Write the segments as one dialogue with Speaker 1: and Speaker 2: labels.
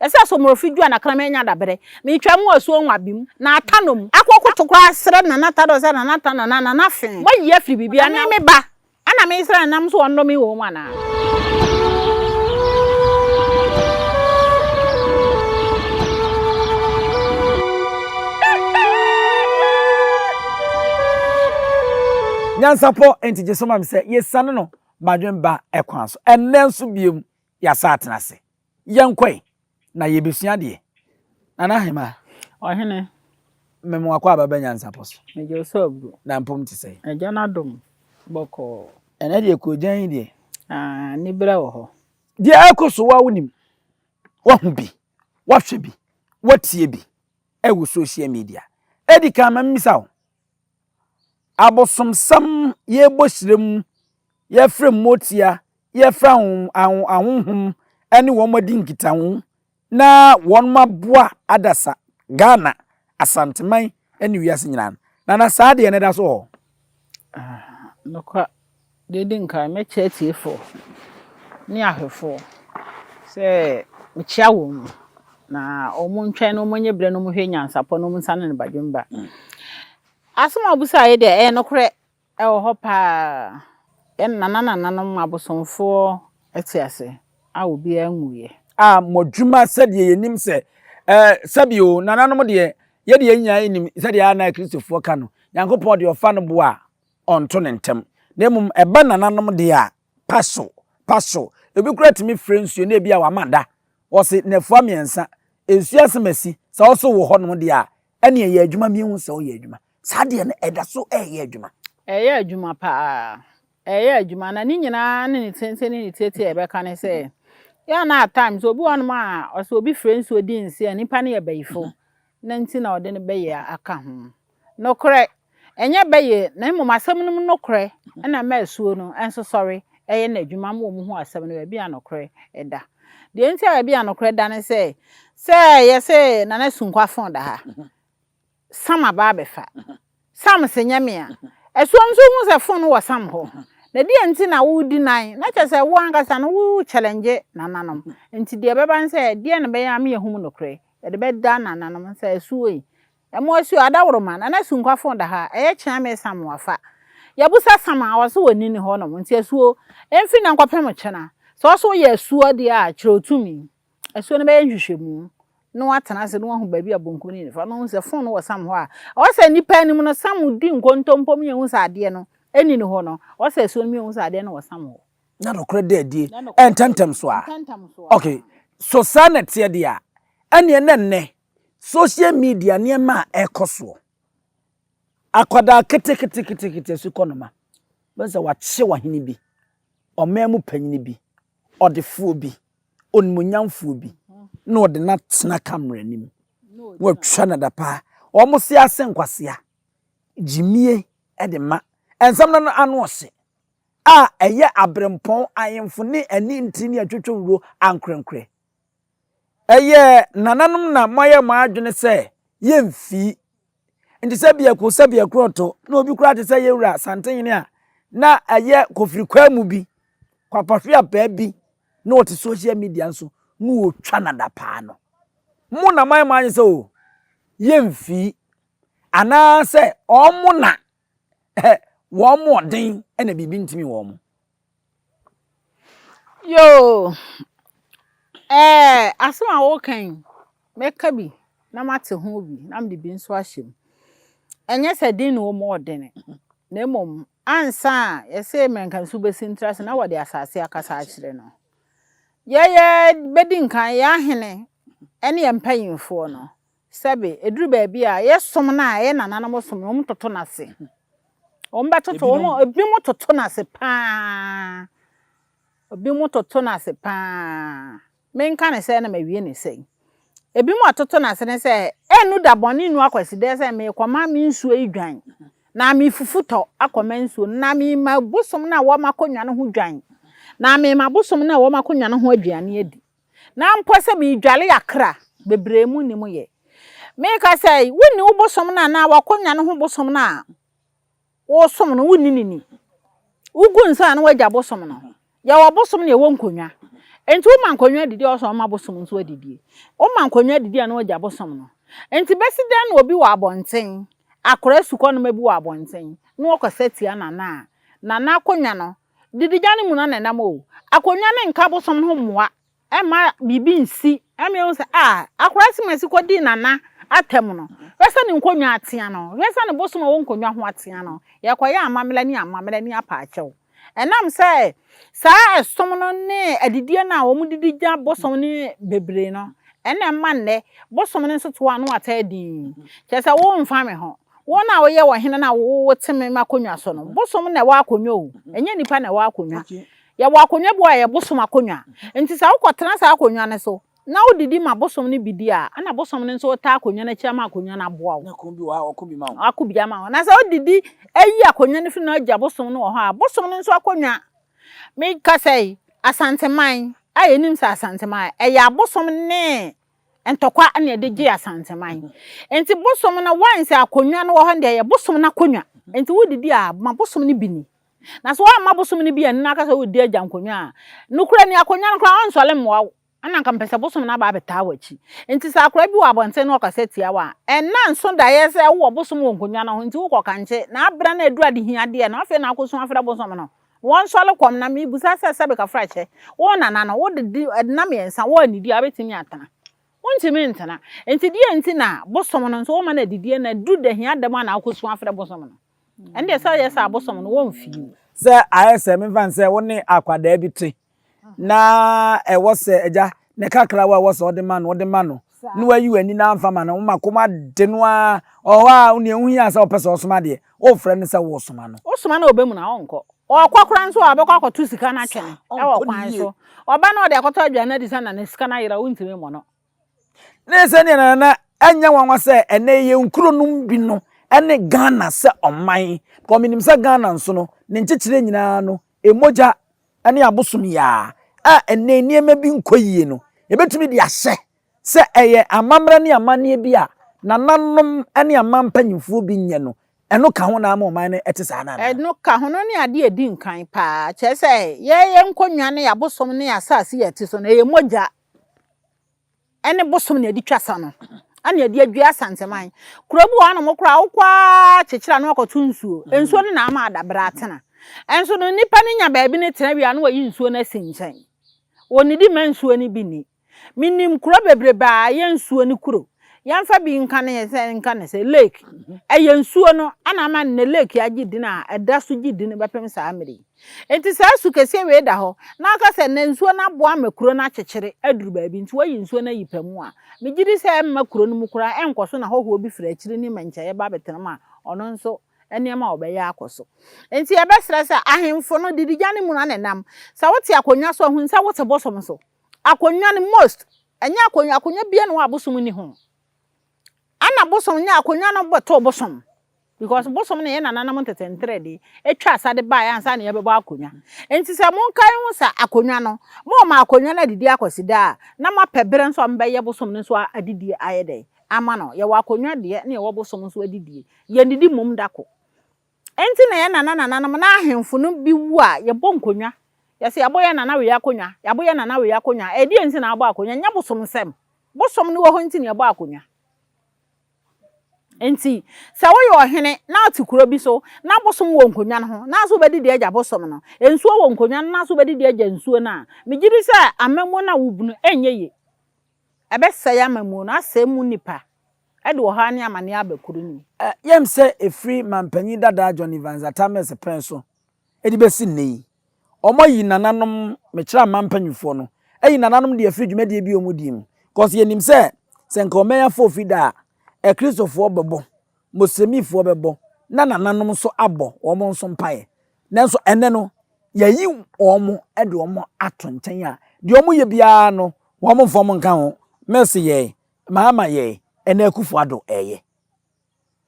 Speaker 1: Ɛsɛ sɛ Omorofi dua na Kraman nya dabrɛ. Me twa mu asuo nwa bim, na ata nom. Akɔ koto koraa srɛ Nana Tadɔ sɛ Nana Tadɔ Nana Nana fe. Mo ayi afiri biribi a na. Na me me ba a na me srɛ nam so ɔnnɔ me wɔ mu anaa.
Speaker 2: Nyansapɔ nti gye so ma me sɛ yɛ siane no ma dwen ba kwan so ɛnnɛ nso biom Yɛasan atena ase. Yɛnkɔ ɛ, na yɛbɛsua adeɛ. Nana Hemaa. Ɔhene.
Speaker 1: Me mo
Speaker 2: akwaaba ba Nyansapɔ so. Mede ɔsɔ aburo. Na
Speaker 1: mpom te sɛn? Agya
Speaker 2: no adom,
Speaker 1: bɔkɔɔ. Ɛnɛ deɛ
Speaker 2: koogyan yi deɛ. Aah, aniberɛ
Speaker 1: wɔ hɔ. Deɛ ɛrekɔ so
Speaker 2: woa wonim? Woahu bi? Woahwɛ bi? Woatie bi? Ɛwɔ social media. Ɛdi kan ma memmisa wo, Abosomsɛm yɛbɔ hyira mu, yɛfrɛ mmotia, yɛfrɛ ahonhom ne wɔn adi nkitaho na wɔaboa adasa Ghana, Asanteman ne wiase nyinaa no. Nana saa adeɛ no da so wɔ hɔ?
Speaker 1: Nokware. Deɛ edi nkan, mɛkyɛ atiefoɔ ne ahwɛfoɔ sɛ mekyea wɔn, na wɔntwɛn na wɔnyɛ berɛ na wɔnhwɛ nyansapɔ na wɔnsane ne badwemba. Asɛm a wobisaa yi deɛ, ɛyɛ nokorɛ, ɛwɔ hɔ pa ara. Yɛn nananananom abosomfoɔ te ase a obiara nwuiɛ. A Modwuma
Speaker 2: sɛdeɛ yɛnim sɛ eh, sɛbe o, nananom deɛ, yɛdeɛ yɛn nyinaa yɛnim sɛdeɛ a na Akristofoɔ ka no, Nyankopɔn deɛ ɔfa no boa a, ɔnto no ntɛm. Na mmom ɛba nananom deɛ a, paso, paso. Ebi koraa tumi frɛ nsuo na ebia wama da. Wɔse nnafua mmiɛnsa, nsuo asem asi. Sɛ ɔso wɔ hɔnom deɛ a, ɛneɛ yɛ adwuma menhu sɛ ɔyɛ adwuma. Saa deɛ no ɛda so ɛɛyɛ adwuma. Ɛɛyɛ adwuma paa.
Speaker 1: Ɛɛyɛ adwuma na ne nyinaa ne ne tenten ne ne tietie a yɛbɛka ne sɛ, yɛ a na at times obi wɔ hɔnom a ɔse obi frɛ nsuo di nse a, nnipa no yɛ bayifo. Dɛn nti na wɔde no bɛyɛ a aka ho? Nokorɛ, ɛnyɛ bɛyɛ, na mmom asɛm no mu nokorɛ na ɛma asuo no nso sɔre yɛ n'adwuma ma wɔhu asɛm no baabi a nokorɛ da. Deɛ nti a baabi a nokorɛ da ne sɛ, sɛ yɛse Nana Sunkwa Afon da ha, Sam aba abɛfa, Sam se nyɛ me a. Ɛsoɔ nso wohu sɛ phone wɔ Sam hɔ. Na deɛ nti na wodi nan? Na kyerɛ sɛ wo ankasa no wo challenge nananom. Nti deɛ ɛbɛba ne sɛ deɛn na ɛbɛyɛ ama yɛahunu nokorɛ? Yɛde bɛda nananom sɛ asuo yi ɛmo asuo adaworoma nana Sunkwa phone da hɔ a ɛyɛ kyea me Sam wafa. Yɛbusa Sam a ɔse w'ani ne hɔ nom nti asuo ɛmfiri nnɛ nkɔpem kyena. Sɛ ɔse woyɛ asuo deɛ a kyerɛ otumi. Asuo no bɛyɛ nhwehwɛmu na watena ase na wahu baabi a bonku no nifa na wahu sɛ fon no wɔ sam hɔ a ɔwɔ sɛ nipa anim no sam di nkontompo mi ehu sɛ adeɛ no ɛni ne hɔ no ɔwɔ sɛ asuo no mi ehu sɛ adeɛ no wɔ sam hɔ. Na nokorɛ dɛ adie
Speaker 2: ɛntɛntɛm so a ok so saa na ɛteɛ deɛ a ɛneɛ na nnɛ social media nneɛma a ɛkɔ soɔ akwadaa keteketekete asu kɔ noma bɛn sɛ wakye wahene bi ɔman mu panyini bi ɔdefoɔ bi. onimuonyamfoɔ bi na wɔde no atena kamera anim na wɔatwa no adapaa wɔse ase nkwasea gyimie de ma nsɛm no ano ɔhye a ɛyɛ aberempɔn ahemfo ne ani ntiri ne atwitwewuro ankorankorɛ ɛyɛ nananom na moayɛ mo adwene sɛ yɛmfii Nti sɛ biako sɛ biako ɔtɔ na obi koraa te sɛ yɛwura Santenhene a na ɛyɛ kofiri kwaa mu bi, kwapahwea paa bi na ɔte social media nso na ɔtwa no adapaa no. Mo na moayɛ mo adwene sɛ o, yɛmfii anaasɛ ɔmo na Ɛhɛ, wɔn mu ɔden na biribi ntumi wɔn.
Speaker 1: Yoo, ɛɛ, asɛm a woka yi, mɛka bi na mate ho bi na mede bi nso ahyɛ mu. Ɛnyɛ sɛ den na wɔn mu ɔdene, na mmom ansa a yɛsɛ mɛnkansu bɛsi ntra ase na wɔde asase akasa akyerɛ no. Yɛyɛ bɛdi nkan, yɛn ahene ne yɛn mpanyinfoɔ no, Sɛbe, eduru baabi a, yɛ som no a, yɛ nananom som no, wɔtoto no ase. Wɔbɛtoto, wɔn, ebinom toto no ase paa. Ebinom toto no ase paa. Menka no sɛɛ na mawie no sɛɛ. Ebinom a wɔtoto no ase ne sɛ, ɛnnu da bɔne nnu akwasidɛɛ sɛ merekɔma me nsuo yi dwan, na merefufu tɔ akɔma nsuo no, na merema bosom no a wɔma kɔnwa no ho dwan, na merema bosom no a wɔma kɔnwa no ho aduane adi. Na mpo sɛ meredware akra bebree mu nni mu yɛ. Meka sɛ, wonni wo bosom no anaa w'akonnwa no ho bosom no a wosom no, wonni no ni. Wogu nsa a na wagya bosom no ho. Yɛwɔ bosom na yɛwɔ nkonnwa. Enti woma nkonnwa adidi a ɔsɛ ɔma bosom nso adidie. Woma nkonnwa adidi a na wagya bosom no. Enti bɛsi dɛn na obi wɔ abɔnten, akora sukɔnoma bi wɔ abɔnten, na ɔkasa tia nana a nana akonnwa no Didegya no mu na na ɛnam o, akonnwa no nka abosom ho mmoa mma biribi nsi ɛma ehu sɛ ah akwadaa simasi kɔdii nana atɛm no hwɛ sɛ ne nkonnwa atea no hwɛ sɛ ne bosom a ɛwɔ nkonnwa ho atea no yɛkɔyɛ amammerɛ ne amammerɛ ne apaakyɛw ɛnam sɛ saa ɛsom no ne adidie no a wɔdidi gya bosom no bebree no ɛna ɛma nnɛ bosom no nso to ano ataa din kyerɛ sɛ womfa me ho. Wɔn a wɔyɛ ɔhene no a wɔte me akonnwa so no, bosom na ɛwɔ akonnwa o, ɛnyɛ nnipa na ɛwɔ akonnwa. Yɛwɔ akonnwa bi wɔ a yɛ bosom akonnwa. Nti sɛ wokɔtena saa akonnwa no so na wodidi ma bosom no bi di a, ɛna bosom no nso taa akonnwa no akyi ama akonnwa no aboa wo. Ɔko bi wɔ hɔ a ɔko bi
Speaker 2: ma wo. Ɔko bi ama wo. Na sɛ
Speaker 1: wodidi ayi akonnwa no firi na agya bosom no wɔ hɔ a, bosom no nso akonnwa. Mekasa yi, Asanteman a yɛnim sɛ Asanteman, ɛyɛ abosom ne ntɔkwa na yɛde gye asanteman nti bosom no wɔn sɛ akonnwa no wɔ hɔ deɛ yɛ bosom no akonnwa nti wodidi a ma bosom no bi ni na so wɔn ma bosom no bi yɛn nina kasa wodi agya nkonnwa a nukura ni akonnwa no koraa ɔnsɔle mmoa wo ɛna nka mpɛsɛ bosom no aba abɛtaa wɔ akyi nti sɛ akora bi wɔ abɔnten no ɔkasa tia wɔ a ɛna nso daeɛ sɛ wowɔ bosom wɔ nkonnwa no ho nti wokɔ kankye na abira na edu adehiadeɛ no afei na akɔsu afrɛ bosom no Wɔnsɔle kɔm na mebisa sɛ sɛbe kafra kyɛ wo nana no wode di ɛdena mmiɛnsa woannidi a wobɛtumi atena? Wontumi ntena. Nti deɛ nti na bosom no nso woma no adidie na ɛduru da hia da mu a na wokɔsu afrɛ bosom no? Ɛndeɛ sɛ woyɛ saa a bosom no wɔmfie o. Sɛ ayɛ sɛ
Speaker 2: memfa no sɛ wo ne akwadaa bi te na ɛwɔ sɛ agya ne kakrawa a ɛwɔ sɛ ɔde ma no ɔde ma no na wayi w'ani na amfa ma no woma kɔm ade no a ɔhɔ a onua ho hia sɛ ɔpɛ sɛ ɔsoma deɛ wofrɛ no sɛ wosoma no wosoma no ɔbɛ mu na ɔnkɔ
Speaker 1: ɔkɔ kora nso a ɔbɛkɔ akɔto sika no atwɛn ɛwɔ kwan so ɔba na ɔde akɔtɔ aduane adi sɛ na ne sika no ayera wontumi mmɔ no Na ɛyɛ sɛ
Speaker 2: nea na ɛnyɛ nwanwa sɛ ɛnɛ yɛ nkuro no bi no ne Ghana sɛ ɔman. Because menim sɛ Ghana nso no, ne nkyekyerɛ nyinaa no, mmogya ne abosom yaa a ɛnɛ nneɛma bi nkɔ yie no, yɛbɛtumi de ahyɛ sɛ ɛyɛ amammerɛ ne amanneɛ bi a nananom ne aman mpanimfoɔ bi nyɛ no, ɛno ka ho na ama ɔman no ɛte saa no anaa? Ɛno ka ho, no ne adeɛ
Speaker 1: ɛdi nkan paa. Kyerɛ sɛ yɛyɛ nkonnwa ne abosom ne asase a ɛte so no, ɛyɛ mogya ɛne bosom na ɛde twa sa no ɛna ɛde adwiri asanteman kuro bi wɔ hɔ nom koraa wokɔ ara kyekyere ano akɔto nsuo mm. nsuo no na ama adabere atena ɛnso no nipa no nya baabi ne tena wia no wɔyi nsuo no asi nkyɛn wɔnidi ma nsuo no bi ni menim kuro bebrebe a yɛ nsuo no kuro Yɛmfa bi nka no yɛ sɛ nka no sɛ lake ɛyɛ nsuo no ɛna ama nnɛ lake agye din a ɛda so gye din bɛpem saa mmerɛ yi nti saa su kɛseɛ wei da hɔ na aka sɛ nnɛ nsuo no aboa ma kuro no akyekyere aduru baabi nti wayi nsuo no ayi pɛ mu a megye di sɛ ɛmma kuro no mu koraa ɛnkɔ so na hɔhoɔ bi firi akyiri ne mmɛnkyɛeɛ ba bɛtena mu a ɔno nso nneɛma a ɔbɛyɛ akɔ so nti yɛbɛsrɛ sɛ ahemfo no didigya no mu na ne nam sɛ wote akonnwa so ahunu sɛ wote bosom so. Akonwa no most ɛnyɛ akonwa akonwa bia na abosom ni ho ana bosom nyɛ akonwa no bɛto bosom because bosom no yɛ nananom ntete ntere de etwa asade baa ansa na yɛbɛbɔ akonwa nti sɛ monkae ho sɛ akonwa no mo ma akonwa no adidi akɔsi daa na mo apɛ bere nso a mbɛyɛ bosom no nso adidi ayɛ dɛ ama no yɛwɔ akonwa deɛ na yɛwɔ bosom nso adidie yɛn didi mmom dako Enti na yɛn nana nananom na ahemfo no bi wu a yɛbɔ nkonwa. Yɛse yɛabɔ yɛn nana wei akonwa, yɛabɔ yɛn nana wei akonwa. Ɛdeɛn nti na abɔ akonwa? Nyɛ bosom nsɛm. Bosom no wɔ hɔ nti na yɛbɔ akonwa. Enti sɛ woyɛ ɔhene na wote kuro bi so na bosom wɔ nkonwa no ho, na sɛ wobɛdi deɛ agya bosom no, nsuo wɔ nkonwa no na sɛ wobɛdi deɛ agya nsuo no a, megye di sɛ amamu no a wobunu ɛnyɛ yie. Ɛbɛsɛe amammuo no, asɛe emu nnipa, de ɔhaw ne amaneɛ aba kuro no mu. Ɛyɛm sɛ ɛfiri
Speaker 2: manpanyin dadaa John Evans Atta Mills pɛn so de bɛsi nnɛ yi, wɔayi nananom, mekyerɛ aman mpanimfoɔ no, ayi nananom deɛ afiri dwumadie bi a wɔdie mu. Cause yɛnim sɛ, sɛ nka ɔman afoɔ fi da a, Akristofoɔ bɛbɔ, Moslemifoɔ bɛbɔ, na nananom nso abɔ wɔn nso mpaeɛ. Nanso ɛnnɛ no, yɛayi wɔn de wɔn ato nkyɛn a deɛ wɔyɛ biara no, wɔn mfa wɔn nka ho. Mercy yɛe, Mahama yɛe, ɛna Akufo Addo reyɛ.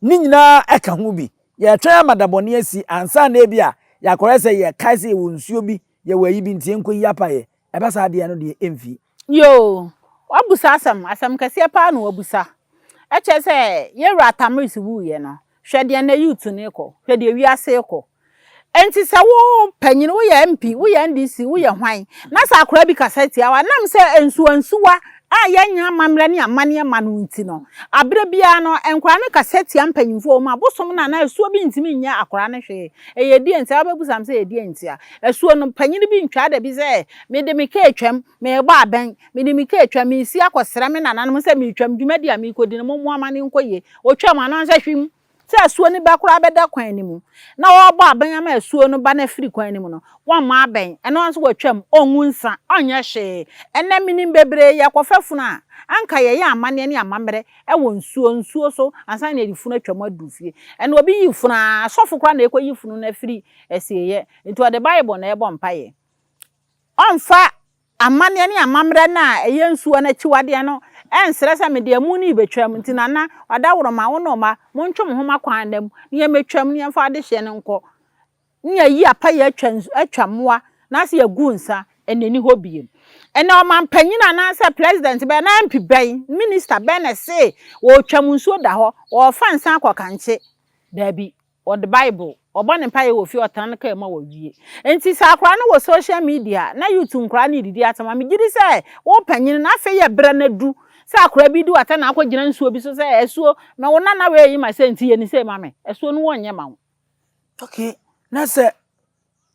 Speaker 2: Ne nyinaa ɛka ho bi. Yɛretwɛn ama da bɔne asi ansa na ebi a yɛakɔyɛ sɛ yɛkae sɛ yɛwɔ nsuo bi, yɛwɔ ayi bi nti yɛnkɔyi apaeɛ. Ɛba saa deɛ ɛno deɛ ɛmfii. Yoo!
Speaker 1: W'abusa asɛm, asɛm kɛseɛ paa na w'abusa. Ɛkyerɛ sɛ yɛn wura Tamiris wuiɛ no, hwɛ deɛ nnɛ youth no rekɔ, hwɛ deɛ wiase rekɔ. Ɛnti sɛ wo panyini, wo yɛ MP, wo yɛ NDC, wo yɛ hwan, na sɛ akwadaa bi kasa tia wo a, nam sɛ nsuwa nsuwa a yɛn nyɛ amammerɛ ne amaneɛ ma no nti no, aberɛ biara no nkwadaa no kasa tia mpanyinfoɔ, wɔn abosom no anaa asuo bi ntumi nyɛ akwadaa no hwee. Ɛyɛ deɛ nti a? Wobɛbusam sɛ ɛyɛ deɛ nti a? Asuo no, panin bi ntwaa da bi sɛ, Mede me kaa atwam, merebɔ abɛn, mede me kaa atwam, meresi akɔsrɛ me nananom sɛ meretwam, dwumadi a merekɔdi no, mommoa ma no nkɔ yie. Ɔtwaam a na ɔnhyɛ hwim sɛ asuo no ba koraa bɛda kwan no mu. Na ɔrebɔ abɛn ama asuo no ba no afiri kwan no mu no, wammɔ abɛn. Ɛno ara nso watwam, ɔngu nsa, ɔnyɛ hwee. Ɛnnɛ, menim bebree yɛ kɔfa funu a, anka yɛyɛ amanneɛ ne amammerɛ wɔ nsuo, nsuo so ansa na yɛde funu atwam aduru fie. Ɛnnɛ, obi yi funu a, asɔfo koraa na ɛrekɔyi funu no afiri Asieyɛ. Nti ɔde Bible na ɛrebɔ mpaeɛ. Ɔmfa amanneɛ ne amammerɛ no a ɛyɛ nsuo no akyiwadeɛ no ɛnsrɛ sɛ mede amu no rebɛtwam. Nti Nana, Ɔdaworoma, wo ne wo mma, montwe mo ho mo akwan nna mu na yɛmmɛtwam na yɛmfa adehyeɛ no nkɔ na yɛayi apa, yɛatwa nsu, atwa mmoa na ase agu nsa ɛnna ɛnni hɔ bio. Ɛnna ɔmanpanin anaasɛ president bɛn anaa MP bɛn, minister bɛn na ɛse ɔretwam nsuo da hɔ, ɔrefa nsa akɔ kankye? Daabi. Wɔde Bible, wɔbɔ ne mpaeɛ wɔ fie, wɔtena ne kaa mu a wɔwie. Enti sɛ akwadaa no wɔ social media na YouTube nkwadaa no redidi asɛm a, megye di sɛ wo panin no, afei yɛ berɛ no adu sɛ akwadaa bi di w'atɛn na akɔgyina nsuo bi so sɛ, Asuo, me wo nana wei yi ma sei nti yɛ ne sei ma me. Asuo no wɔnyɛ mma wo. Okay,
Speaker 2: na sɛ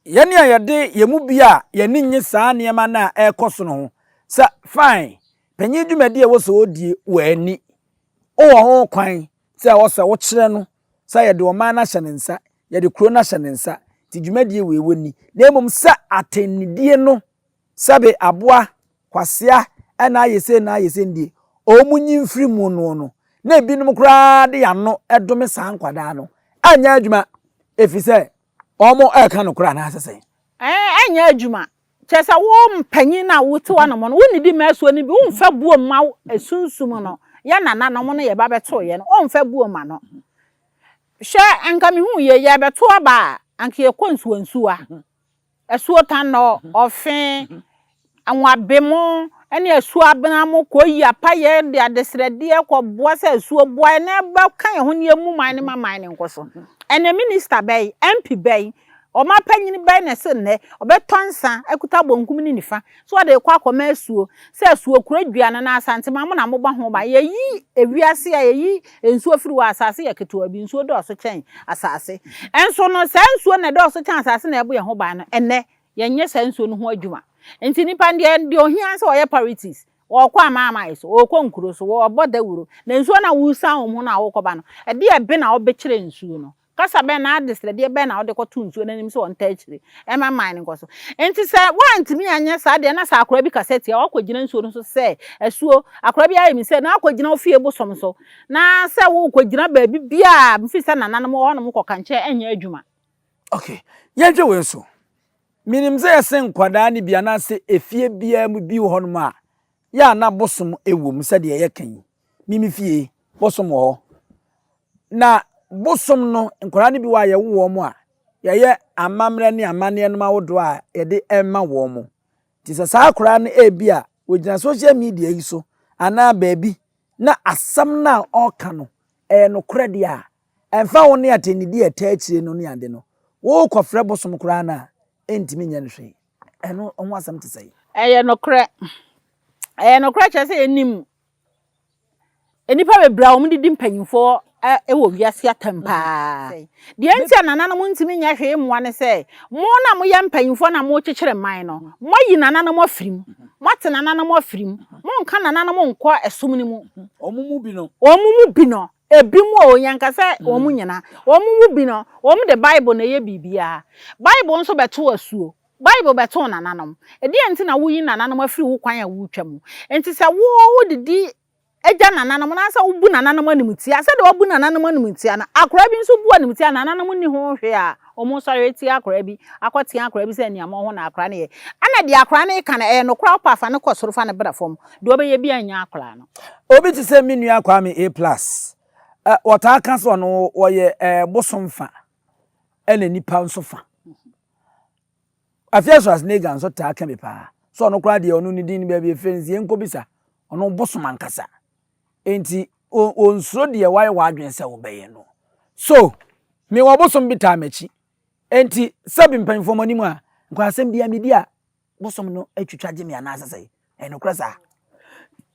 Speaker 2: yɛn a yɛde yɛn mu bi a yɛn ani nnye saa nneɛma no a ɛrekɔ so no ho sɛ, fine, panin dwumadi a ɛwɔ sɛ ɔdie, wanni, wowɔ ho kwan sɛ ɛwɔ sɛ wokyerɛ no Sɛ yɛde ɔman no ahyɛ ne nsa, yɛde kuro no ahyɛ ne nsa, nti dwumadie wei wɔ ni, na mmom sɛ atɛnnidie no, sɛbe aboa, kwasea, ɛna ayɛ sei na ayɛ sei no deɛ, wɔn nyi mfiri mu noɔ no, na ebinom koraa de wɔn ano dome saa nkwadaa no, anyɛ adwuma, ɛfiri sɛ Wɔreka nokorɛ anaasɛ sɛn? Ɛnyɛ adwuma.
Speaker 1: Kyerɛ sɛ, wo mpanyin no a wote w'anom no, wonnidi mma asuo no bi, womfa buo mma wo sunsum no. Yɛn nananom no, yɛba bɛtoo yɛn no, wɔmfa buo mma no. Hwɛ, anka mehuu yei, yɛrebɛto aba a, anka yɛkɔ nsuwansuwa. Asuotan na ɔfe, anwabemo ne asuabena mo kɔyi apayɛ de adesrɛdeɛ kɔboa sɛ asuo boa yɛn na ɛbɛka yɛn ho ne yɛmmu man no ma man no nkɔ so. Ɛnɛ minista bɛn, MP bɛn, ɔman panyin bɛn na ɛse nnɛ ɔbɛtɔ nsa akuta bonkum ne nifa So wɔde rekɔ akɔma asuo, sɛ asuo kura dua no na Asantema mo na mobɔ ho ban. Yɛyi ewiase a yɛyi nsuo firi hɔ a, asase yɛ ketewa bi, nsuo dɔɔso kyɛn asase. Nso no, saa nsuo na ɛdɔɔso kyɛn asase na ɛbɔ yɛn ho ban no, ɛnnɛ, yɛnyɛ saa nsuo no ho adwuma. Nti nnipa no deɛ, deɛ ohia ne sɛ ɔyɛ parities, ɔrekɔ amanaman so, ɔrekɔ nkuro so, ɔrebɔ dawuro, na nsuo no a woresan wɔn ho no a worekɔba no, ɛdeɛ bɛ na wɔbɛkyerɛ nsuo no? Kasa bɛn anaa adesrɛdeɛ bɛn na wode kɔto nsuo no anim sɛ ɔntaa akyire mma mman no nkɔ so? Enti sɛ woantumi anyɛ saa deɛ na sɛ akwadaa bi kasa tia a, woakɔgyina nsuo no so sɛ, Asuo, akwadaa bi ayɛ me sei, na woakɔgyina wo fie bosom so, na sɛ worekɔgyina baabi biara a, mefiri sɛ nananom wɔ hɔnom kɔ kankyɛ ɛnyɛ adwuma. Ok,
Speaker 2: yɛnhwɛ wei nso. Menim sɛ yɛse nkwadaa no bi anaasɛ efie biara mu bi wɔ hɔnom a, yɛ a na bosom wɔ mu sɛdeɛ yɛka yi. me me fie bosom wɔ hɔ. Na bosom no, nkwadaa no bi wɔ a yɛwo wɔn a, yɛyɛ amammerɛ ne amanneɛ nom ahodoɔ a yɛde ma wɔn. Nti sɛ saa akwadaa no ebi a wɔgyina social media yi so anaa baabi na asɛm no a ɔreka no ɛyɛ nokorɛ deɛ a, ɛmfa ho ne atɛnnidi a ɛtaa akyire no ne ade no, worekɔfrɛ bosom koraa no a, ɛntumi nyɛ no hwee. Ɛno ho asɛm te sɛn? Ɛyɛ
Speaker 1: nokorɛ. Ɛyɛ nokorɛ kyerɛ sɛ yɛnim Nnipa bebree a wɔdidi mpanyimfoɔ wɔ wiase atɛm paa. Deɛ nti a nananom ntumi nyɛ hwee mmoa ne sɛ, mo na moyɛ mpanyimfoɔ na morekyekyere mman no, moayi nananom afiri mu. Moate nananom afiri mu. Monka nananom nkɔ ɛsom no mu. Wɔn mu bi no.
Speaker 2: Wɔn mu bi
Speaker 1: no. Ebi mu o, yɛnka sɛ wɔn mu nyinaa. Wɔn mu bi no, wɔn de Bible na ɛyɛ biribiara. Bible nso bɛto asuo. Bible bɛtoo nananom. Ɛdeɛn nti na woyi nananom afiri wo kwan a woretwa mu? Enti sɛ wo wodidi gya nananom anaasɛ wobu nananom animtia, sɛdeɛ woabu nananom animtia no, akoraa bi nso bu animtia a nananom nni ho hwee a, wɔsɔre atia akoraa bi, akɔtea akoraa bi sɛ aniammɔn ho na akoraa no yɛ. Ɛna deɛ akoraa no reka no, ɛyɛ nokorɛ a, wopɛ a fa no kɔ soro, fa no bra fam. Deɛ ɔbɛyɛ biara nnya akoraa no. Obi te sɛ me nua
Speaker 2: Kwame A plus, wɔtaa ka sɛ ɔno wɔyɛ bosom fa ɛna nipa nso fa. Afei a Schwarzenegger nso taa ka bi paa sɛ ɔno koraa deɛ ɔno ne din no baabi efiri nti yɛnkɔbisa ɔno bosom ankasa nti ɔnsuro deɛ wayɛ w'adwene sɛ wobɛyɛ no so mewɔ bosom bi taa m'akyi nti sɛbi mpanyinfoɔ mo anim a nkɔ asɛm bia medi a Bosom no atwitwa gye me anaasɛ sɛe. Ɛyɛ nokorɛ saa?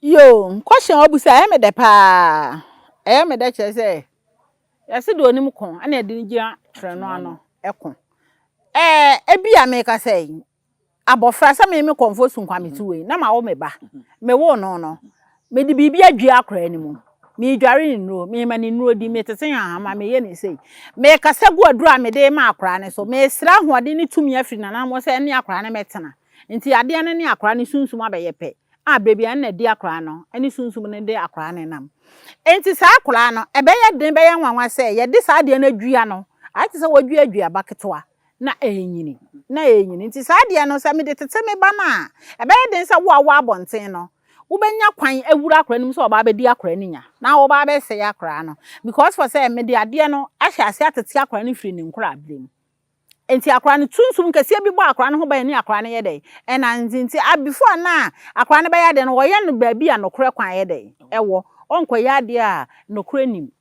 Speaker 2: Yoo,
Speaker 1: question a wabusa ɛyɛ me dɛ paa. Ɛyɛ me dɛ kyerɛ sɛ yɛse deɛ onim ko ɛna ɛde no gyina trenoo ano ɛko. Ɛɛ ebi a meka sɛ abɔfra sɛ me me kɔnfo sunkwa me ti wei na ma wo me ba. Me wo no no. Mede biribi adwiri akwadaa no mu. Meredware ne nnuro. Merema ne nnuro di. Metete nhahama. Mereyɛ ne sei. Merekasa gu aduro a mede rema akwadaa no so. Meresrɛ ahoɔden ne tumi afiri n'anammɔn sɛ ɛne akwadaa no mmɛtena. Enti adeɛ no ne akwadaa no sunsum abɛyɛ pɛ. A berɛ biara ɛnna ɛde akwadaa no ne sunsum no de akwadaa no nam. Enti saa akwadaa no, ɛbɛyɛ den, ɛbɛyɛ nwanwa sɛ yɛde saa adeɛ no adwia no. Ayɛ te sɛ wɔadwia aduaba ketewa na ɛrenyini, na ɛrenyini. Nti saa adeɛ no, sɛ mede tete me ba no a, ɛbɛyɛ den sɛ wo a wowɔ abɔnten no, Wobɛnya kwan awura akwadaa no mu sɛ ɔba abɛdi akwadaa no nya na ɔba abɛsɛe akwadaa no because for sɛ mede adeɛ no ahyɛ ase atete akwadaa no firi ne nkorabere mu. Nti akwadaa no sunsum kɛseɛ bi bɔ akwadaa no ho ban ne akwadaa no yɛ dɛn ɛnante nti a before a na akwadaa no bɛyɛ adeɛ no wɔyɛ no baabi a nokorɛ kwan yɛ dɛn ɛwɔ ɔnkɔyɛ adeɛ a nokorɛ nim.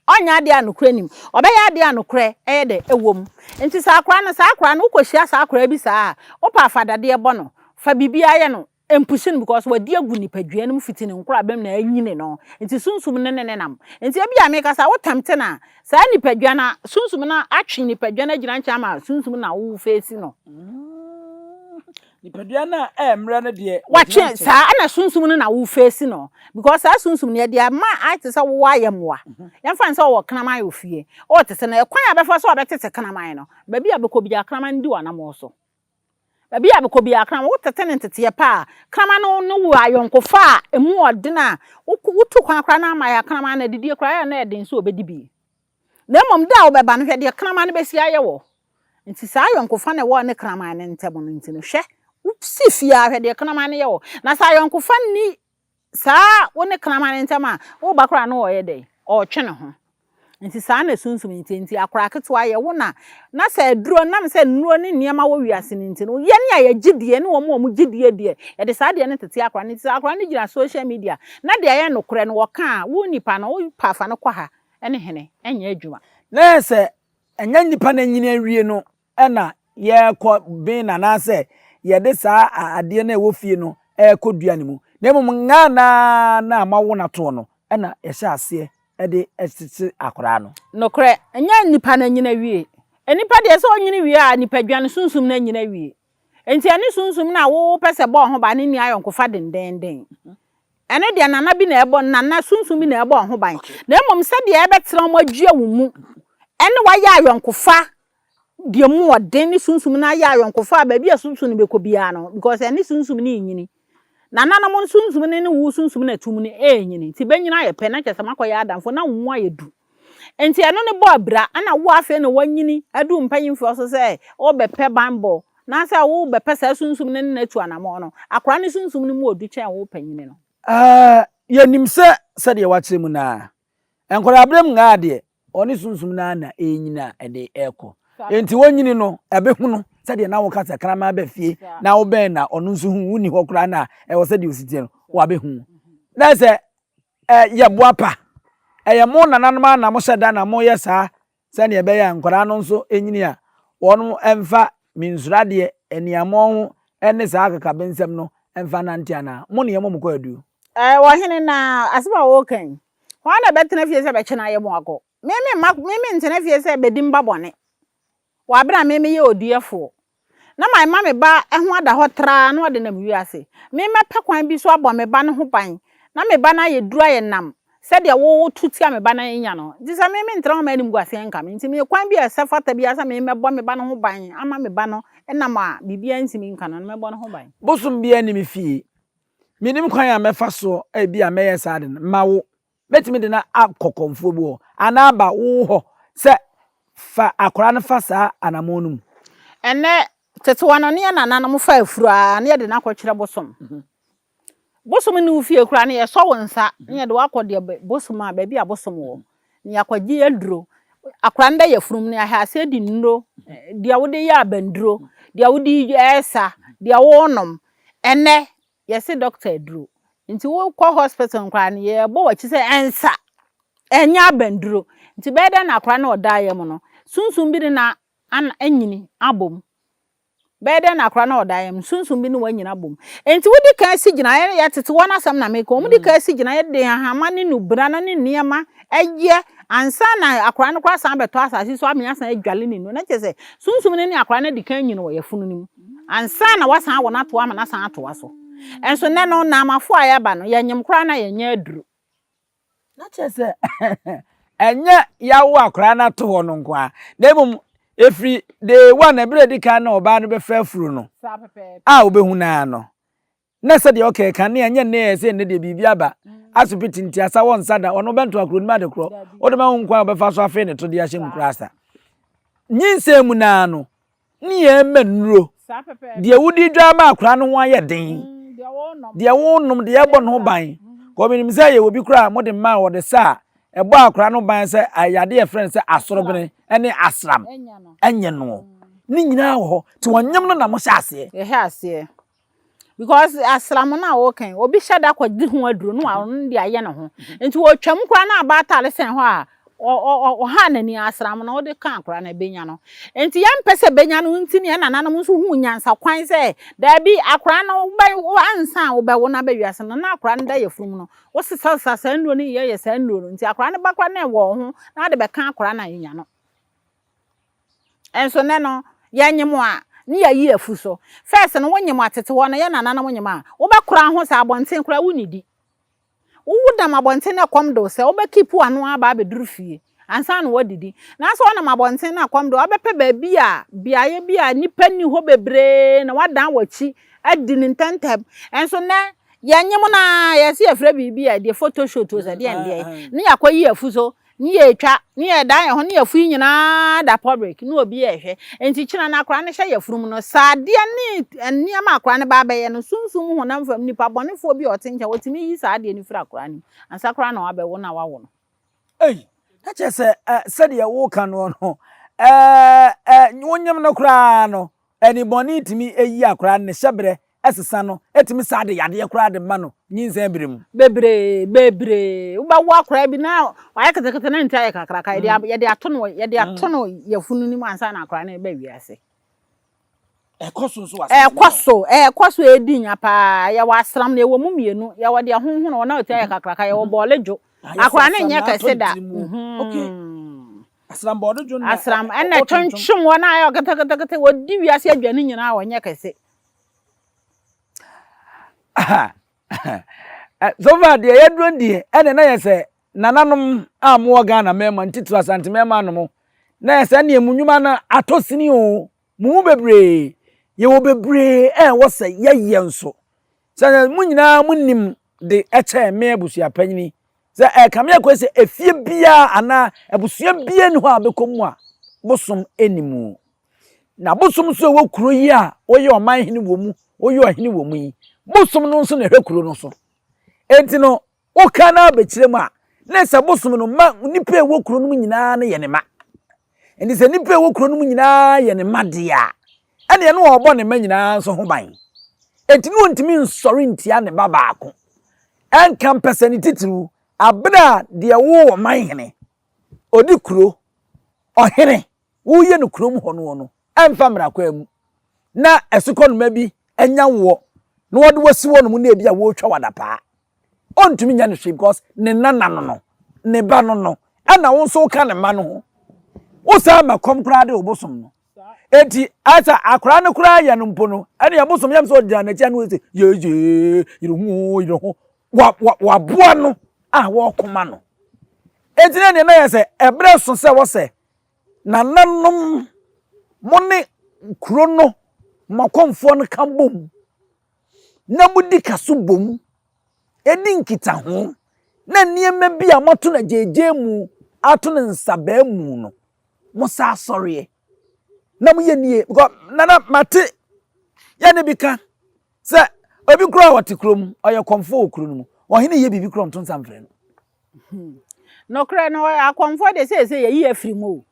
Speaker 1: Ɔnyɛ adeɛ a nokorɛ nnim. Ɔbɛyɛ adeɛ a nokorɛ yɛ dɛ? Ɛwɔ mu. Nti sɛ akwadaa no, saa akwadaa no, wokɔhyia saa akwadaa bi saa a, wopɛ a fa dadeɛ bɔ no, fa biribiara yɛ no, mpushi no because wadi agu nipadua no mu fiti ne nkorabam na anyini no, nti sunsum no ne no nam. Nti ebia mekasa a, wo tempte no a, saa nipadua no, sunsum no atwe nipadua no agyina nkyɛn ama sunsum no na wo face no. Nipadua
Speaker 2: no a ɛremmrɛ no deɛ watwe saa ɛna
Speaker 1: sunsum no na wo face no because saa sunsum no yɛde ama ayɛ te sɛ wowɔ ayɛ mmoa yɛmfa ne sɛ ɔwɔ kraman wɔ fie ɔwɔ te sɛ no ɛkwan a bɛfa so a bɛtete kraman no baabi a bɛkɔ biara kraman no di wɔ anamɔ so baabi a bɛkɔ biara kraman wotete ne nteteɛ pa a kraman no ne wo ayɔnkofa a ɛmu ɔden a wotu kwan koraa na ama yɛ kraman no adidie koraa yɛ na ɛden sɛ ɔbɛdi bi Na mmom da a wobɛba no, hwɛ deɛ kraman no bɛsi ayɛ wo. Enti saa ayɔnkofa na ɛwɔ ne kraman no ntam no nti no, hwɛ, wosi fie ara, hwɛ deɛ kraman no yɛ wo. Na sɛ ayɔnkofa nni saa wo ne kraman no ntam a, wo ba koraa no ɔreyɛ dɛn? Ɔretwe ne ho. Enti saa na sunsum no te. Enti akoraa ketewa yɛ wo na. Na sɛ aduro, nam sɛ nnuro ne nneɛma wɔ wiase no nti no, yɛn a yɛgye die ne wɔn a wɔgye die deɛ, yɛde saa adeɛ no tete akoraa no. Enti sɛ akoraa no gyina social media na deɛ ɛyɛ nokorɛ no wɔka a, wo nipa no, wopɛ a fa no kɔ ha. ne hene nyɛ adwuma. Na ayɛ sɛ
Speaker 2: ɛnyɛ nnipa no anyini awie no na yɛrekɔ ben no anaasɛ yɛde saa adeɛ no a ɛwɔ fie no rekɔ dua no mu, na mmom ngaa no ara no a moawo no atoɔ no na yɛhyɛ aseɛ de tete akwadaa no. Nokorɛ, ɛnyɛ
Speaker 1: nnipa no anyini awie. Nnipa deɛ sɛ ɔnyini wie a, nipadua no sunsum no anyini awie. Enti ɛne sunsum no a wopɛ sɛ ɛbɔ wo ho ban no nni ayɔnkofa dendeenden. Ɛno deɛ nana bi na ɛbɔ, nana sunsum bi na ɛbɔ wɔn ho ban, na mmom sɛdeɛ ɛbɛtena wɔn adua wo mu ne wo ayɛ ayɔnkofa deɛ mu wɔ den ne sunsum no ayɛ ayɔnkofa a baabi a sunsum no bɛkɔ biara no, because ɛne sunsum no renyini. Nananom sunsum no ne wo sunsum no atum no renyini, nti bɛnyini ayɛ pɛ na kyerɛ sɛ moakɔyɛ adamfo na wo mu ayɛ du. Enti ɛno ne bɔ abira. Ɛna wo afei na woanyini adu mpanyimfoɔ so sɛ wobɛpɛ banbɔ anaasɛ wobɛpɛ saa sunsum no ne no atu anammɔn no. Akwadaa no sunsum no mu wɔ du kyɛn wo panyin no. Aa, yɛnim
Speaker 2: sɛ sɛdeɛ woakyerɛ mu no ara, nkwadaa-berɛm ngaa deɛ, wɔne sunsum no ara na ɛrenyini a ɛde rekɔ. Enti wɔnyini no, ɛbɛhunu sɛdeɛ na woka sɛ kraman ba fie na wobɛn na ɔno nso hu wo nni hɔ koraa na ɛwɔ sɛ deɛ ɔsi teɛ no, wabɛhu. Na sɛ Ɛ yɛ boapa. Ɛyɛ mo nananom ara na mohyɛ da na moyɛ saa sɛdeɛ ɛbɛyɛ a nkwadaa no nso nyini a wɔn mfa minsuro adeɛ, aniammɔn ho ne saa akakabensɛm no mfa nnante anaa? Mo ne yɛmmɔ mo kwaaduu. Ɛ ɔhene, na
Speaker 1: asɛm a woka yi, hwan na ɛbɛtena fie sɛ bɛkyɛ no ayɛ mo akɔ? Me me mma, me mentena fie sɛ bɛdi mma bɔne. Wɔ aber a me meyɛ oduɛfoɔ, na mema me ba ho ada hɔ traa na ɔde nam wiase, me mɛpɛ kwan bi so abɔ me ba no ho ban, na me ba no ayɛ duru ayɛ nam, sɛdeɛ wo woto tia me ba na enya no. Enti sɛ me mentra hɔ ma animguaseɛ nka me, enti meyɛ kwan bi a ɛsɛ fata biara sɛ me mɛbɔ me ba no ho ban ama me ba no nam a biribiara ntumi nka no no, mɛbɔ no ho ban. Bosom biara nni me
Speaker 2: fie. Mennim kwan a mɛfa soɔ a ebia mɛyɛ saa ade no, mma wo. Mɛtumi de no akɔ kɔmfoɔ bi hɔ, anaa ba wo hɔ sɛ fa akwadaa no fa saa anamɔn no mu. Ɛnnɛ,
Speaker 1: tetewa no ne yɛn nananom fa afuro ara na yɛde no akɔkyerɛ bosom. Bosom nni wo fie koraa no, yɛsɔ wo nsa na yɛde wo akɔ deɛ bosom a, baabi a bosom wɔ na yɛakɔgye aduro. Akwadaa no da yafunum no ahɛ aseɛ di nnuro, deɛ wode yɛ abanduro, deɛ wode yɛ sa, deɛ wonom. Ɛnnɛ, Yɛse doctor aduro nti wo kɔ hospital no koraa no yɛ bɔ wakyi sɛ ɛnsa ɛnyɛ abanduro nti bɛyɛ dɛn na akora no ɔda yɛ mu no sunsum bi ne na ana anyini abom bɛyɛ dɛn na akora no ɔda yɛ mu sunsum bi ne wanyini abom nti wo di kan si gyina yɛ yɛ tete wɔn asɛm na meka wɔn di kan si gyina yɛ de ahama ne nubra na ne nneɛma ɛyɛ ansa na akora no koraa san bɛtɔ asase so amea san adwale ne nu na kyerɛ sɛ sunsum ne ne akora no adi kan nyini wɔ yɛ funu no mu. ansa na wɔasan awo no atoa ama no asan atoa so. Nso nnɛ no, Naamafo a yɛaba no, yɛnyem koraa na yɛnyɛ aduru. Na
Speaker 2: kyerɛ sɛ, ɛnyɛ yɛawo akwadaa no ato hɔ no nko ara, na mmom ɛfiri day one, ɛberɛ a ɛdi kan na ɔbaa no bɛfa afuro no a wobɛhu no ara no, Na sɛdeɛ ɔkɛɛ kane a, nyɛ nnɛ yɛ sɛ nnɛ deɛ biribi aba, asopiti nti asa wɔ nsa da, ɔno bɛnto akuro no mu ade korɔ, wode ma ho nkwan a ɔbɛfa so afee ne to de ahyɛ mu koraa sa. Nyinsɛn mu no ara no, ne yɛn mma nnuro, deɛ wodi dwa ama akwadaa no ho ayɛ den, deɛ wonom, deɛ ɛbɔ ne ho ban, kɔ menim sɛ yɛwɔ bi koraa a mode mma a wɔde sa a ɛbɔ akwadaa no ban sɛ ayade a ɛfrɛ no sɛ asorobene ne asram, ɛnyɛ no, ne nyinaa wɔ hɔ, nti wɔnyem no na mohyɛ aseɛ.
Speaker 1: because asram no a wɔka yi obi hyɛ da kɔgye ho aduro no a ɔno de ayɛ ne ho nti wɔtwam koraa na aba atare sɛn hɔ a ɔha n'ani asram no wode ka akora no ɛbɛnya no nti yɛmpɛ sɛ bɛnya no nti ne ɛnananom nso hu nyansa kwan sɛ daabi akora no ansa a wobɛwo no aba wiase no na akora no da yɛfunumu no wosesasesa saa nnuro no yɛyɛ saa nnuro no nti akora no ba kora na ɛwɔ ho na wode bɛka akora no a ɛnya no Nso nnɛ no, yɛnyem a, ne yɛayi afu so. First no, wonyem a, tete hɔ no, yɛn nananom nyem a, wobɛkora ho saa abɔnten koraa wonnidi. Wowo nam abɔnten na ɛkɔm de wo sɛ, wobɛkeep w'ano ara aba abɛduru fie ansa na woadidi. Nanso wonam abɔnten na ɛkɔm de wo a, wobɛpɛ baabi a, beaeɛ bi a nnipa nni hɔ bebree na woadan w'akyi adi no ntɛmntɛm. Nso nnɛ, yɛnyem no ara, yɛse yɛfrɛ biribi a, ɛdeɛ photoshoot o, sɛ deɛndeɛn, ne yɛakɔyi afu so Ne yɛtwa, ne yɛdan yɛn ho, ne yɛfo yi nyinaa da public, ne obi a ɛhwɛ. Enti kyena no akora no hyɛ yafurum no. Saa adeɛ ne nneɛma akora no ba abɛyɛ no, sunsum mu honam fam nipa bɔnefoɔ bi a ɔte nkyɛn, ɔtumi yi saa adeɛ no firi akora no mu, ansa koraa na wabɛwo na wawo no. Ei! Na
Speaker 2: kyerɛ sɛ, eh, sɛdeɛ woreka noɔ no, eh, eh, wonyem no koraa no. Ɛne bɔne tumi yi akwadaa no ne hyɛberɛ sesa no, ɛtumi saa de yadeɛ koraa de ma no nyinsɛn berɛ mu. Bebree, bebree.
Speaker 1: Wobɛwo akwadaa bi na wayɛ ketekete na ne ti ayɛ kakraka, yɛde a, yɛde ato no, yɛde ato no yafunu no mu ansa na akwadaa no reba wiase. Ɛkɔ so nso wɔ asase Ɛkɔ no so, ɛkɔ so ɛredi nya paa. Yɛwɔ asram na ɛwɔ mu mmienu. Yɛwɔ deɛ honhono wɔ na ɔti ayɛ kakraka, yɛwɔ bɔɔle dwo. so. Ayɛ sɛ Akwadaa no asam nyɛ na atɔ kɛse ne da. tiri mu. Mhm. Okay.
Speaker 2: Asram bɔ ɔde dwon na Asram ɛ- ɛna ɔ- ɔto nnwom.
Speaker 1: ɛtwentwem wɔn a ɛyɛ ketekete wɔdi wiase aduane nyinaa a wɔnyɛ kɛse
Speaker 2: Eh, so far deɛ yɛduro deɛ ɛne na yɛ sɛ nananom a mowɔ ghana mmarima ntitiri asante mmarima no mo na yɛ sɛ neɛ mu nnwuma no atɔ sini o Mo mu bebree, yɛwɔ bebree a ɛwɔ sɛ yɛyɛ nso. Sɛ na mo nyinaa mo nim de ɛkyɛn me abusuapanyini. Sɛ ɛka me akɔ sɛ efie biara anaa abusua biara nni hɔ a bɛkɔ mu a bosom nni mu. Na bosom nso ɛwɔ kuro yi a woyɛ ɔman hene wɔ mu, woyɛ ɔhene wɔ mu yi. Bosom no nso na ɛhwɛ kuro no so. Enti no Woka no ara ba kyerɛ mu a, na ɛsɛ sɛ bosom no ma nnipa a ɛwɔ kuro no mu nyinaa no yɛ ne mma. Enti sɛ nnipa a ɛwɔ kuro no mu nyinaa yɛ ne mma deɛ a, ɛnneɛ na ɔrebɔ ne mma nyinaa nso ho ban. Enti na ɔntumi nsɔre ntia ne ba baako. Ɛnka mpɛsɛ ne titiriw abere a deɛ ɔwɔ ɔman hene, ɔdi kuro, ɔhene, woyɛ no kurom hɔ noɔ no mfa mmra kwan mu na asukɔnoma bi anya woɔ na wɔde wasi hɔ nom na ebi a wɔretwa wo adapaa. Ɔntumi nyɛ no hwee because ne nana no no, ne ba no no, ɛna wo nso woka ne mma no ho. Wosan ma kɔm koraa de wo bosom no. Eti asa akwaraa no koraa yɛ no mpo no, ɛne ɛbosom yam sɛ ɔgyina n'akyi ano sɛ yeye yere ho yere ho waboa no a wɔkoma no. Eti na nea na yɛ sɛ ɛbrɛ so sɛ wɔsɛ Nananom, mo ne kuro no Mɔkomfoɔ no ka bom na modi ka so bom di nkitaho na nneɛma bi a moato no agyaagyee mu, ato no nsabaa mu no, mo sa asɔreɛ na moyɛ nie. Because nana mate yɛ ne bi ka sɛ obi kura a ɔte kurom ɔyɛ kɔmfoɔ wɔ kuro no mu ɔhene yɛ biribi kura ɔnto nsa mfrɛ no. Hmm.
Speaker 1: Nokorɛ no, akɔmfoɔ deɛ seesei yɛyi afiri mu o.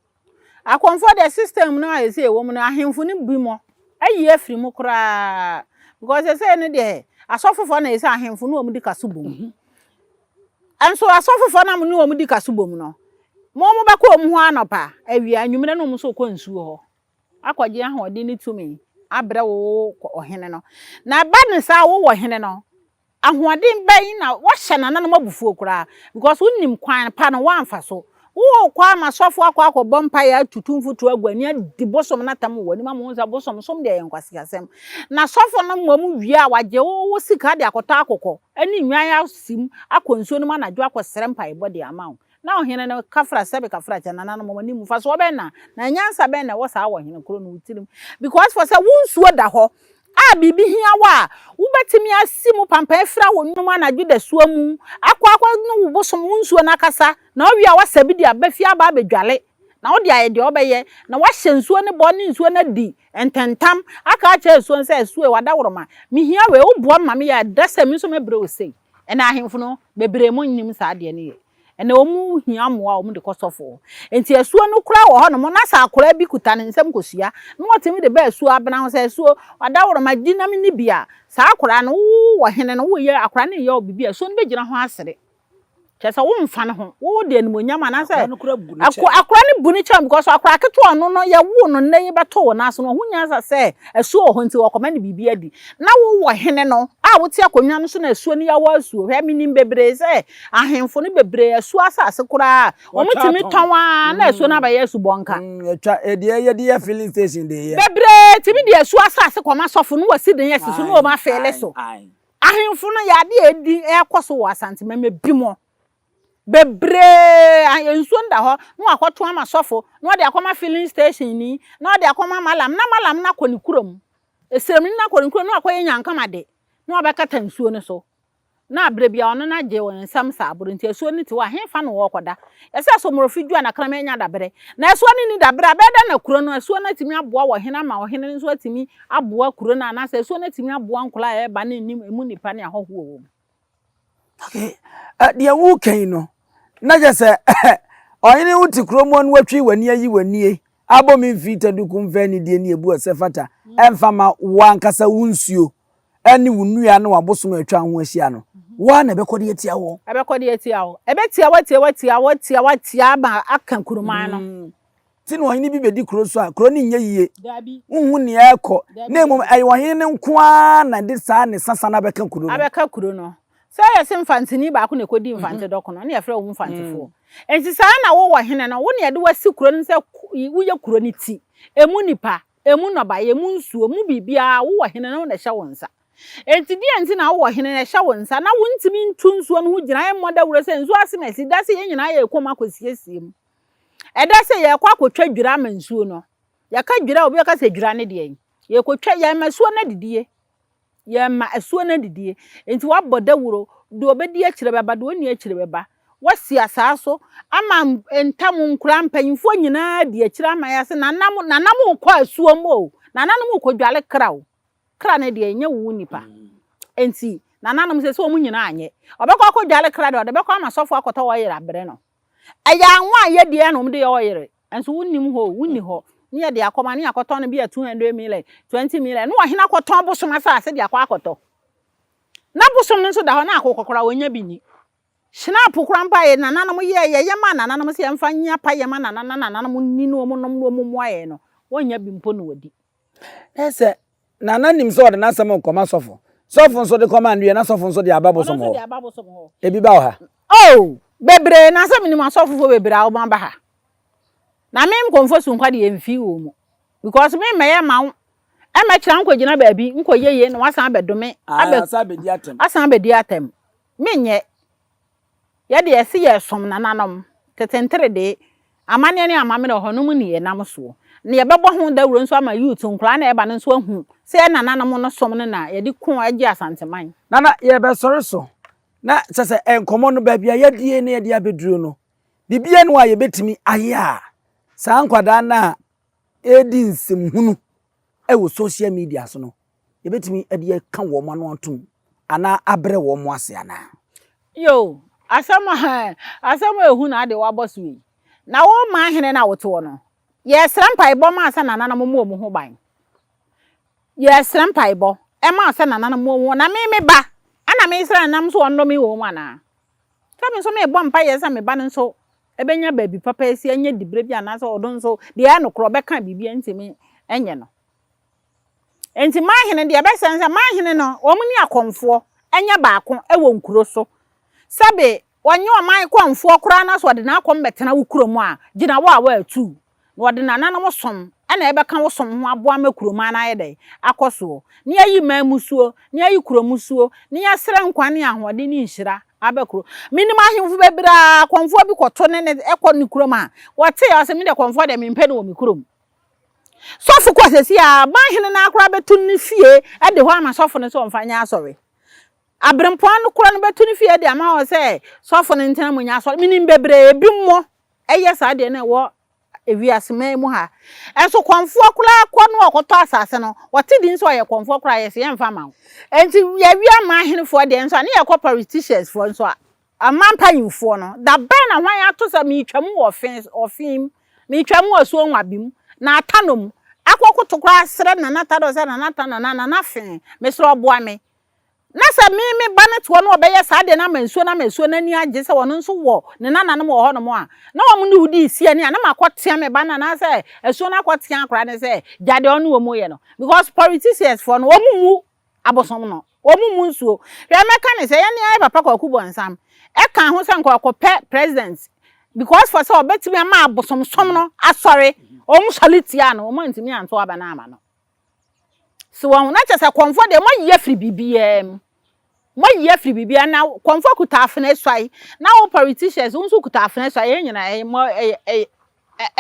Speaker 1: Akɔmfoɔ deɛ system no a ɛsei wɔ mu no, ahemfo no bi mɔ ayi afiri mu koraa. Because ɛsei no deɛ, asɔfofoɔ na ɛsɛ ahemfo no wɔn di ka so bom. Mhm. Nso asɔfofoɔ na mo ne wɔn di ka so bom no, mo wɔn bɛkɔ wɔn ho anɔpa, awia, anwummerɛ na wɔn nso kɔ nsuo hɔ. Akɔgye ahoɔden ne tumi abrɛ wo ɔhene no. Na ɛba ne saa wowɔ hene no, Ahoɔden bɛn na woahyɛ nananom abufuo koraa because wonim kwan pa no woamfa so. Wokɔ a ma sɔfoɔ akɔ akɔbɔ mpaeɛ atutu mfuturo agu ani adi bosom no atam wɔ w'anim ama wohu sɛ bosom som deɛ ɛyɛ nkwaseasɛm. Na sɔfo no mmom wie a wagye wo wo sika de akɔtɔ akokɔ ne nnwan asim akɔ nsuo no mu anadwo akɔsrɛ mpaebɔ de ama wo. Na ɔhene no ka fra sɛ meka fra kyɛ nananom wɔn anim mfasoɔ bɛn na na nyansa bɛn na ɛwɔ saa wɔ ɔhene koro no tirim because for sɛ wo nsuo da hɔ a biribi hia wo a wobɛtumi asi mu pampan afira wo nnwom anadwo dasuo mu akɔ akɔ ne wo bosom wo nsuo no akasa na ɔwie a wasa bi de aba fie aba abɛdwale na wode ayɛ deɛ ɔbɛyɛ na wahyɛ nsuo ne bɔ ne nsuo no adi ntɛntam aka akyerɛ nsuo no sɛ nsuo wada woroma mehia wei woboa me ma meyɛ a ɛda sɛ me nso mɛbrɛ wo sei Ɛna ahemfo no bebree mo nnim saa adeɛ no yɛ. Ɛna wɔn hia mmoa a wɔn de kɔ sɔfo hɔ. Nti asuo no kura wɔ hɔ nom na sɛ akwadaa bi kuta ne nsam kɔ sua na wɔtumi de ba asuo abena ho sɛ asuo ɔdaworoma di nam ni bi a saa akwadaa no wo wɔ hene no wo yɛ akwadaa no yɛ wo bibi a asuo no bɛ gyina ho asere Kyerɛ sɛ womfa ne ho. Wode animuonyam anaasɛ Akora no kora bu ne kyɛn. akora no bu ne kyɛn because akora ketewa ɔno no yɛwoo no nnɛ yi bɛtoo wo nan ase no ɔho nnya nsa sɛ asuo wɔ hɔ nti ɔkɔma no biribi adi. Na wowɔ hene no a wote akonnwa no so na asuo no yawɔ asuo. Hwɛ menim bebree sɛ ahemfo no bebree asuo asase koraa wɔn tumi tɔn ara na asuo no abɛyɛ asubɔnka. Mm ɛtwa ɛdeɛ
Speaker 2: yɛde yɛ filling station de yɛ. Bebree tumi de asuo
Speaker 1: asase kɔma sɔfo no wɔ si den asi so na wɔn afeele so. Ae ae. Ahenfo no yɛ ade a edi ɛrekɔ so wɔ Asante mɛmɛ bi mu bebree. Nsuo no da hɔ na wakɔto ama sɔfo na ɔde akɔma filling station ni na ɔde akɔma malam na malam no akɔ ne kurom. Esremni no akɔ ne kurom na wakɔyɛ nyankama de na wabɛkata nsuo no so. Na abere bi a ɔno no agye wɔn nsam saa boro nti asuo no te hɔ a henfa na wɔrekɔda. Ɛsɛ Somorofi dwo a na kraman anya daberɛ. Na asuo no nni daberɛ a bɛyɛ dɛn na kuro no asuo no atumi aboa wɔ hene ama ɔhene no nso atumi aboa kuro no anaasɛ asuo no atumi aboa nkwadaa a ɛreba ne nim emu nnipa ne ahɔho wɔ wɔn.
Speaker 2: Okay. Uh, deɛ woka yi no na kyɛ sɛ ɔhene wo te kurom no watwi w'ani ayi w'anie abɔ me mfiri taduku mfɛ anidie ne ɛbu ɛsɛ fata ɛmfa ma wo ankasa wo nsuo ɛne wo nnua ne wabosom atwa ho ahyia no woa na ɛbɛkɔ de atia wɔ ɛbɛkɔ de atia wɔ
Speaker 1: ɛbɛtia watia watia watia watia ma aka kuroman no te na ɔhene bi
Speaker 2: bedi kuro so a, kuro no nyɛ yie. Wonhu nea ɛrekɔ, na mmom ɛyɛ ɔhene no nko ara na ɛde saa ne sasa no abɛka kuro no. Abɛka kuro no.
Speaker 1: Sɛ ɛyɛ sɛ mfanteni baako na ɛkɔdi mfante dɔko no, ɛnneɛ yɛfrɛ wo mfantefoɔ. Enti saa ara na wo ɔhene no, wo na yɛde wo asi kuro no sɛ woyɛ kuro no ti. Emu nnipa, emu nnɔbaeɛ, emu nsuo, emu biribiara, wo ɔhene no, wo na ɛhyɛ wo nsa. Enti deɛn nti na wo ɔhene no, ɛhyɛ wo nsa na wontumi ntu nsuo no ho gyinaeɛ mmɔ dawuro sɛ nsuo asene asi, da sɛ yɛn nyinaa yɛrekɔ mu akɔsiesie mu? Ɛda sɛ yɛrekɔ akɔtwa dwira ama nsuo no. Yɛka dwira a, obi bɛka sɛ dwira ne deɛn? Yɛrekɔtwa, yɛmma asuo no adidie. Yɛmma asuo no adidie. Nti wabɔ dawuro, deɛ ɔbɛdi akyire bɛba, deɛ ɔnni akyire bɛba. Wasi asaa so ama ntam nkura mpanimfoɔ nyinaa adi akyire ama yɛ ase. Nana mo, nana mo rekɔ asuo mu o. Nana no mo rekɔdware kra o. Kra ne deɛ nyɛ wo nipa. Nti nananom sɛ sɛ wɔn nyinaa nyɛ. Ɔbɛkɔ akɔdware kra deɛ ɔde bɛkɔ ama sɔfoɔ akɔtɔ ɔyere abrɛ no. Ɛyɛ anwa a yɛdi a na wɔde yɛ ɔyere. Nso wonnim hɔ o, wonni hɔ. Ne yɛde akɔma, ne yɛakɔtɔn no bi a 200 million, 20 million. Ne ɔhene akɔtɔn bosom asase de akɔ akɔtɔ. Na bosom no nso da hɔ, na akokɔ koraa wɔnya bi nni. Hyinapo koraa mpo a yɛn nananom yɛɛ, yɛyɛ maa nananom sɛ yɛmfa nyɛ payɛ ma nana na nananom nni na wɔnom na wɔmmoa yɛn no, wɔnya bi mpo na wɔdi. Na sɛ
Speaker 2: nana nim sɛ ɔde n'asɛm nkɔma sɔfo, sɔfo nso de kɔma ndeɛ na sɔfo nso de aba bosom hɔ. Ebi ba wɔ ha. Oh,
Speaker 1: bebree, na sɛ menim asɔfofoɔ bebree a wɔn aba ha. Na me nkɔmfo so nkwa deɛ mfi wɔn mu. Because me mmɛyɛ ma wo, ɛmmɛkyerɛ nkɔgyina baabi, nkɔyɛ yie na wasan abɛdome, abɛ, asan abɛdi atɛm. Menyɛ. Yɛ deɛ yɛse yɛresom nananom, tete nteredee, amanneɛ ne amammerɛ, ɔhɔnom nniyɛnam soɔ. Na yɛbɛbɔ ho dawuro nso ama youth, nkwadaa na ɛreba no nso ahu sɛ yɛn nananom no som no na yɛde ko agye Asanteman. Nana, yɛrebɛsɔre
Speaker 2: so, na kyɛ sɛ nkɔmmɔ no, baabi a yɛadue na yɛde abɛduru no, biribiara nni hɔ a yɛbɛtumi ayɛ a saa nkwadaa no a redi nsɛm hunu wɔ social media so no, yɛbɛtumi de aka wɔn ano atom anaa abrɛ wɔn ase anaa? Yoo,
Speaker 1: asɛm a asɛm a ehu na ade wabɔ so yi. Na wo man hene na wotew no. Yɛsrɛ mpaebɔ ma sɛ nananom mmɔ wɔn ho ban. Yɛsrɛ mpaebɔ ɛma sɛ nananom mmɔ wɔn na me me ba ɛna mesrɛ nam so wɔn nnome wɔn mu anaa? Sɛ me nso mebɔ mpaeɛ sɛ me ba no nso Ɛbɛnya baabi papa asi, ɛnyɛ diberɛ bi anaasɛ ɔno nso deɛ ɛyɛ nokorɛ ɔbɛka biribi a ntumi nyɛ no. Enti m'ahene, deɛ ɛbɛsɛ ne sɛ m'ahene no wɔn ne akɔmfoɔ nyɛ baako wɔ nkuro so. Sɛbe wɔnye ɔman kɔmfoɔ koraa na sɛ ɔde n'akɔm bɛtena wo kurom a, gyina wo a woatu na ɔde nananom som na ɛbɛka wo som ho aboa ma kurom ha no ayɛ dɛn? Akɔ soɔ. Na yɛayi man musuo, na yɛayi kuro musuo, na yɛsrɛ nkwa ne ahoɔden ne nhyira aba kuro. Menim ahemfo bebree a kɔmfoɔ bi kɔto ne ne kɔ ne kurom a, wɔtee a ɔse me deɛ kɔmfoɔ deɛ mempɛ no wɔ me kurom. Sɔfo kɔ sɛsi a man hene no ara koraa bɛto no ne fie de hɔ ama sɔfo no sɛ ɔmfa nyɛ asɔre. Aberempɔn no koraa no bɛto ne fie de ama hɔ sɛ sɔfo no ntena mu nyɛ asɔre. Menim bebree, ebi mmɔ Ɛyɛ saa deɛ na ɛwɔ ewiase man mu ha nso kɔnfoɔ koraa kɔ no ɔkɔtɔ asase no wɔte din sɛ ɔyɛ kɔnfoɔ koraa yɛsi yɛn nfa ma wo nti yɛwi ama ahenefoɔ deɛ nso a ne yɛ kɔ politicians foɔ nso a ama mpanyinfoɔ no da bɛn na hwan ato sɛ meetwa mu wɔ ɔfin ɔfin mu meetwa mu wɔ suo nwabi mu na ata no mu akɔ koto koraa srɛ nana ta dɔ sɛ nana ta nana nana fee mesrɛ ɔboa me Na sɛ me, me ba no toɔ na wɔbɛyɛ saa deɛ no ama nsuo no ama nsuo no ani agye sɛ wɔn nso wɔ ne nananom wɔ hɔnom a, na wɔn ne wo di nsi ani a, na makɔtea me ba no anaasɛ asuo no akɔtea akwadaa no sɛ gya deɛ ɔne wɔn yɛ no. Because politiciansfoɔ no, wɔn mmu abosom no, wɔn mmu nsuo. Hwɛ, mɛka no sɛ, yɛne yɛn papa Kwaku Bonsam ɛkaa ho sɛ nka ɔkɔpɛ president because for sɛ ɔbɛtumi ama abosomsom no asɔre, wɔn sɔre tiaa no, wɔn antumi anto aba no amma no. So wɔn na kyɛ sɛ kɔnfoɔ deɛ moayi afiri biribiara mu moayi afiri biribiara na kɔnfoɔ kuta afena suae na wo politicians wo nso kuta afena suae yɛn nyinaa ɛyɛ mɔ ɛyɛ ɛyɛ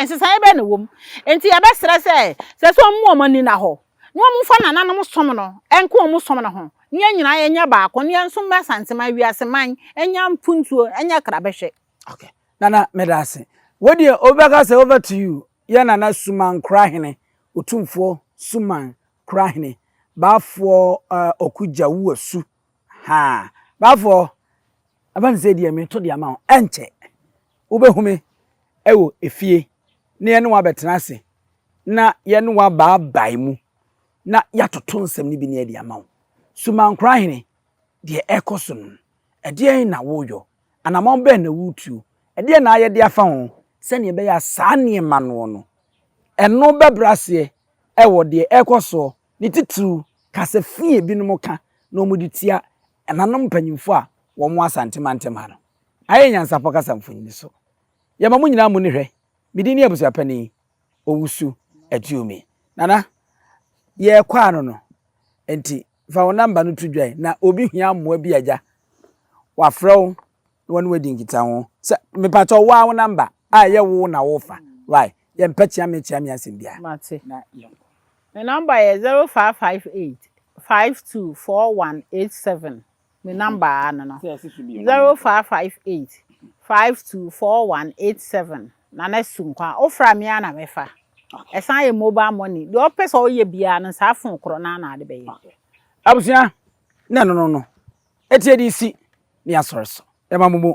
Speaker 1: nsesaeɛ bɛn na wɔm nti yɛbɛsrɛ sɛ sɛ sɛ wɔn mu wɔn ani na hɔ na wɔn fa nananom som no ɛnko wɔn som no ho ne yɛn nyinaa yɛnyɛ baako ne yɛn nso mmɛ santeman wiase man ɛnya mpuntuo ɛnya krabɛhwɛ okay nana
Speaker 2: meda ase wo deɛ wobɛka sɛ over to you yɛ Nana Suman Korahene, Otumfoɔ Suman Korahene, Baafoɔ Ɔku Gya Wuasu. Ha! Baafoɔ, ɛba ne sɛ deɛ meto de ama wo, ɛnkyɛ wobɛhu me wɔ efie na yɛne wo abɛtena ase na yɛne wo abaabae mu na yɛatoto nsɛm no bi ne adi ama wo. Suman Korahene, deɛ ɛkɔ so no, ɛdeɛn na woyɔ Anammɔn bɛn na woretu? Ɛdeɛn na ayɛ de afa ho? Sɛdeɛ ɛbɛyɛ a saa nneɛma noɔ no, ɛno bɛbrɛ aseɛ wɔ deɛ ɛrekɔ soɔ, ne titiriw kasa fi a ebinom ka na wɔde tia ɛnanom mpanyimfoɔ a wɔwɔ Asante mantam ha no. Ayɛ nyansapɔ kasa mfonini so. Yɛma mo nyinaa mo ni hwɛ. Me din ne Abusuapanin Owusu Atuomi. Nana, yɛrekɔ ano no, enti Fa wo namba no to dwa na obi hia mmoa bi a agya wafrɛ wo na wɔne wadi nkitaho. Sɛ mepakyɛw wo ara wo namba a ɛyɛ wo na wofa why yɛmpɛ kyeame kyeame asɛm biara Mate. na yɛnkɔ. Me number yɛ zero
Speaker 1: five five eight five two four one eight seven. Me number ara no no. Zero five five eight five two four one eight seven Nana Sunkwa. Wofra me ara na mɛfa. Ɛsan yɛ mobile money. Deɛ ɔpɛ sɛ ɔyɛ biara no saa fon korɔ no ara na ade bɛyɛ. Abusua
Speaker 2: na ɛno no no ɛteɛ de si ne asɔre so ɛma mo mu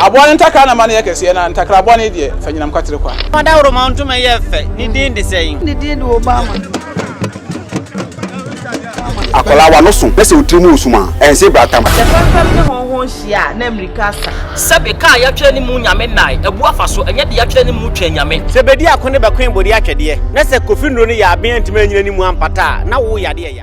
Speaker 3: Aboa no
Speaker 4: ntakra na ma no yɛ kɛseɛ, na ntakra bɔne deɛ, fa nyinam kwatere kwa. Fa dawuroma ntoma yɛ
Speaker 5: fɛ, ne din de sɛn? Ne din de
Speaker 3: Obama.
Speaker 6: Akwadaa w'ano so na sɛ wo tiri mu resum a, ɛnse brata ma. Sɛ fɛmfɛm ne hɔnhɔn
Speaker 7: hyia a, na mmirika asa. Sɛbe kaa a yɛatwerɛ
Speaker 5: ne mu Nyame nnae, abu afa so, ɛnyɛ de yɛatwerɛ ne mu Twɛn Nyame. Sɛ bɛdi ako ne bɛkoe
Speaker 8: bode atwɛdeɛ, na sɛ Kofi Nnuro no yɛ aben antumi anyina ne mu ampata a, na wo yadeɛ ya.